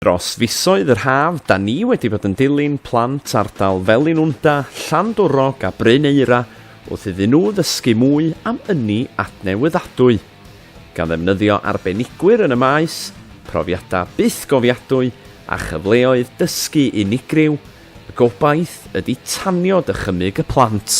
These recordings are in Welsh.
Dros fisoedd yr haf, da ni wedi bod yn dilyn plant ardal Felinwnda, Llandwrog a Bryn Eira wrth iddyn nhw ddysgu mwy am ynni adnewyddadwy. Gan ddefnyddio arbenigwyr yn y maes, profiadau bythgofiadwy a chyfleoedd dysgu unigryw, y gobaith ydy tanio dychymyg y plant.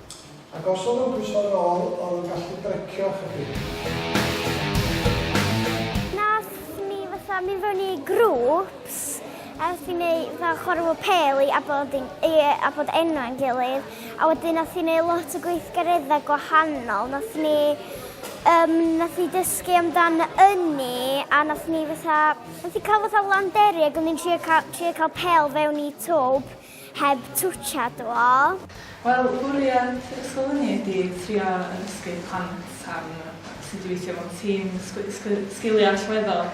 Ac os oedd o'n pwyso ar ôl, oedd o'n gallu brecio chydig. Nes ni fatha mynd fewn i grŵps ers i ni fatha chwarae pêl i abod yn, i abod enw yn gilydd. A wedyn nath i neud lot o gweithgareddau gwahanol. Nath ni, um, nath ni dysgu amdan ynni a nath ni fatha, nath ni cael fatha landeri ac o'n ni'n trio cael, trio cael pêl fewn i twb. heb twtsia dw. Wel, bwriad yr ysgol hynny ydi trio addysgu plant am sut i weithio mewn tîm, sgiliau allweddol,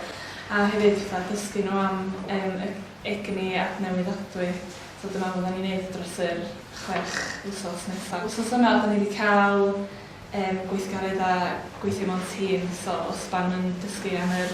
a hefyd fatha dysgu nhw am yym yr egni adnewyddadwy, so dyna fyddan ni'n neud dros yr chwech wsos nesa. Wsos yma 'dan ni 'di ca'l yym gweithgaredda' gweithio mewn tîm, so os 'dan yn dysgu am yr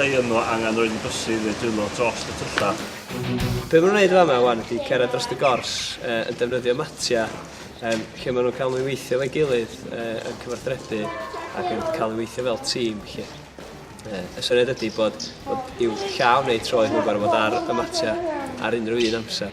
rhei yno angen rhoi yn bysydd neu dwylo drost y tyllau. Be maen nhw'n wneud fan yma wan ydy cerdded dros y gors uh, yn defnyddio matia um, lle maen nhw'n cael nhw'n weithio fe gilydd uh, yn cyfarthrebu ac yn cael ei weithio fel tîm. Lle. Uh, y syniad ydy bod, bod i'w llaw neu troed nhw'n gorfod ar y matia ar unrhyw un amser.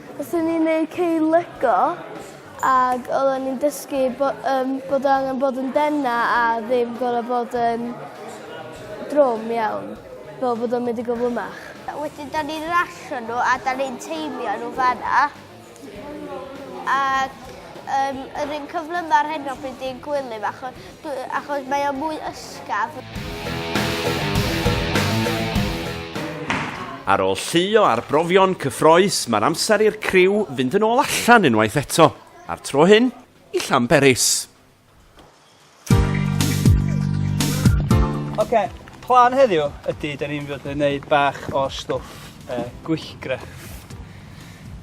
Oedden ni'n neud cei lego ag oedden ni'n dysgu bo- yym bod o angen bod yn dena a ddim gor'o' bod yn drwm iawn fel bod o'n mynd yn gyflymach. A wedyn 'dan ni'n rasio n'w a 'dan ni'n teimio n'w fan'na ac yym yr un cyflyma'r hyn o bryd i'n gwely fach o- By, achos mae o mwy ysgaf. Ar ôl llu o arbrofion cyffroes, mae'r amser i'r criw fynd yn ôl allan unwaith eto, a'r tro hyn i Llanberis. Oce, okay, plan heddiw ydy, da ni'n fod yn gwneud bach o stwff uh, gwyllgrefft.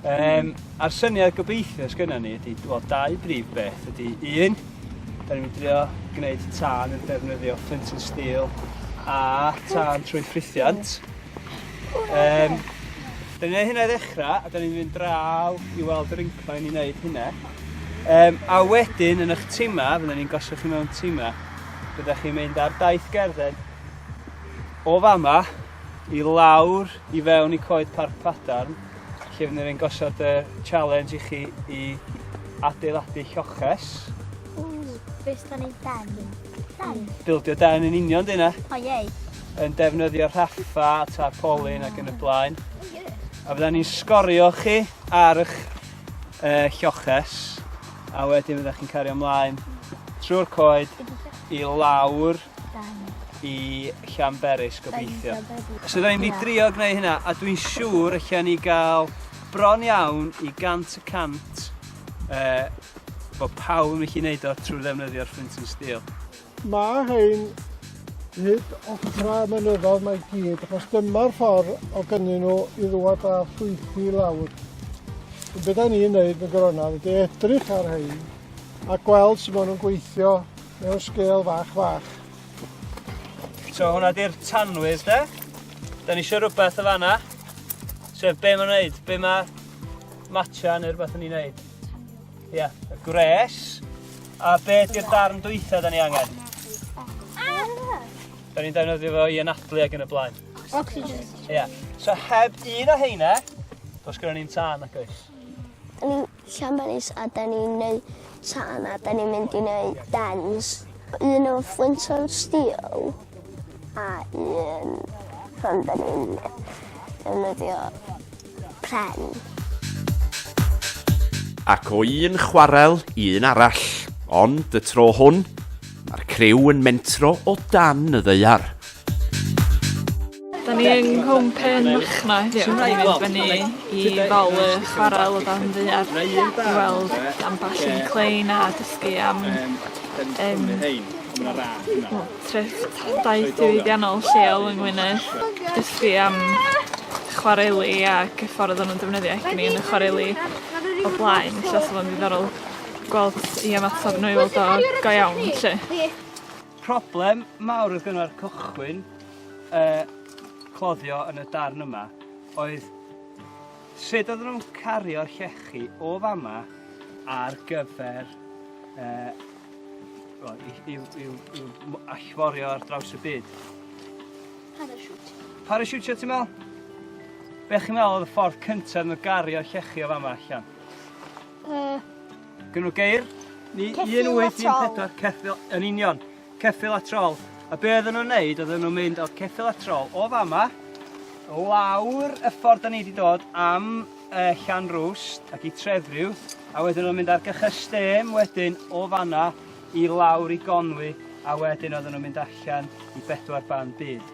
Um, a'r syniad gobeithio sgynna ni ydy, wel, dau brif beth ydy un, da ni'n drio gwneud tân yn defnyddio ffynt yn stil a tân trwy ffrithiant. Um, da ni'n gwneud hynna i ddechrau, a da ni'n mynd draw i weld yr incline i wneud hynna. Um, a wedyn, yn eich tima, fydden ni'n gosod chi mewn tima, byddech chi'n mynd ar daith gerdded o fama i lawr i fewn i coed Parc Padarn lle fydden ni'n gosod y challenge i chi i adeiladu lloches. Ww, beth sy'n ei ben? Ben? Bildio den yn union dyna. O iei. Yn defnyddio rhaffa, tarpolin ac yn y blaen. A fydden ni'n sgorio chi ar eich uh, lloches a wedyn fyddech chi'n cario ymlaen trwy'r coed i lawr i Llanberis gobeithio. So da ni'n mynd i drio gwneud hynna a dwi'n siŵr allan ni gael bron iawn i gant y cant uh, bod pawb yn gallu gwneud o trwy ddefnyddio'r printing steel. Mae hyn hyd ochr y mynyddodd mae gyd, achos dyma'r ffordd o gynnyn nhw i ddwad a ffwythu lawr. Yn beth ni'n neud yn gronaf ydy edrych ar hyn a gweld sy'n maen nhw'n gweithio Mewn sgêl fach fach. So hwnna di'r tanwydd de. Da ni eisiau rhywbeth o fanna. Sef be mae'n neud, be mae matcha neu rhywbeth yn ei wneud. Ie, yeah. y gwres. A be di'r darn dwytha da ni angen? Da ni'n defnyddio fo i anadlu ag yn y blaen. Oxygen. Ie. Yeah. So heb un o heina, dos gyda ni'n tân ac oes. Llamaris a da ni'n neu tân a da ni'n mynd i neu dens. Un o fflint o'r stil a un pan da ni'n defnyddio pren. Ac o un chwarel i un arall, ond y tro hwn, mae'r criw yn mentro o dan y ddaear. Da ni yng Nghwm Pen Machno heddiw. Dwi'n mynd i fyny i Fal y Chwarel o dan ddaear i weld ambell un clein a dysgu am yym o treftadaeth diwydiannol lleol yng Ngwynedd. Dysgu am chwareli ac y ffordd o'n nw'n defnyddio egni yn y chwareli o blaen ella sa fo'n ddiddorol gweld i ymatab n'w i weld o go iawn 'lly. Problem mawr oedd gynnau'r cychwyn y cloddio yn y darn yma oedd sut oedden nhw'n cario'r llechi o fama ar gyfer uh, well, i, i, i, i, i allforio ar draws y byd. Parachute. Parachute, sio ti'n meddwl? Be chi'n meddwl oedd y ffordd cyntaf yn gario llechi o fama allan? Uh, Gynno geir ni 1814 ceffil yn union, ceffil a trol. A be oedden nhw'n neud, oedden nhw'n mynd o'r ceffil a trol o fama, lawr y ffordd da ni wedi dod am e, Llan Rwst ac i Trefriw, a wedyn nhw'n mynd ar gychystêm wedyn o fanna i lawr i Gonwy, a wedyn oedden nhw'n mynd allan i bedwar ban byd.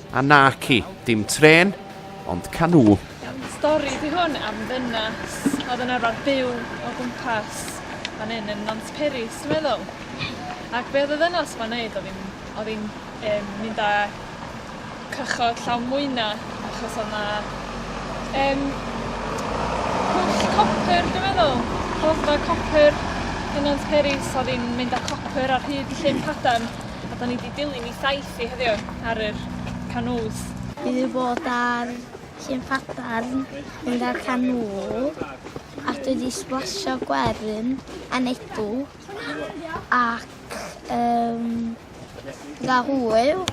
A naci, dim trên, ond canŵ. Iawn, stori di hwn am ddynas oedd yn arfer byw o gwmpas fan hyn yn Nant Peris, dwi'n meddwl. Ac be oedd y ddynas ma'n neud, oedd hi'n oedd hi'n um, mynd â cychod llawn mwyna, achos oedd na um, pwll copr, dwi'n meddwl, rhoddfa copr yn Nant Peris, oedd hi'n mynd â copr ar hyd llyn cadarn, a da ni wedi dilyn i thaith Ti heddiw ar yr canŵs? Dwi 'di bod ar llyn Padarn mynd ar canŵ a dwi 'di sblasio gwerin a nedw ac um, dda hwyl.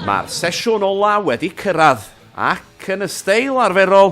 Mae'r sesiwn ola wedi cyrraedd ac yn y steil arferol,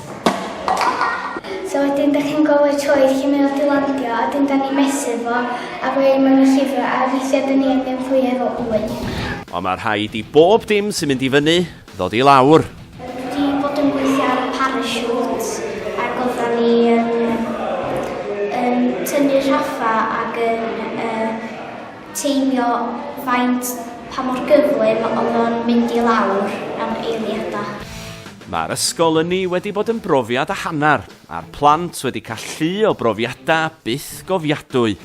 So wedyn da chi'n gofio choed chi'n mynd i landio a dyn da ni mesur fo a roi yn mewn y llifra a weithiau da ni yn mynd fwy ar o un. Ond mae rhaid i bob dim sy'n mynd i fyny ddod i lawr. Dwi bod yn gweithio ar y parachutes ac oedda ni yn, yn tynnu rhaffa ac yn uh, teimio faint pa mor gyflym oedd o'n mynd i lawr am eiliadau. Mae'r ysgol ynni wedi bod yn brofiad a hanner, a'r plant wedi cael llu o brofiadau byth gofiadwy.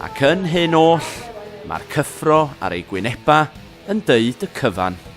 Ac yn hyn oll, mae'r cyffro ar eu gwynebau yn deud y cyfan.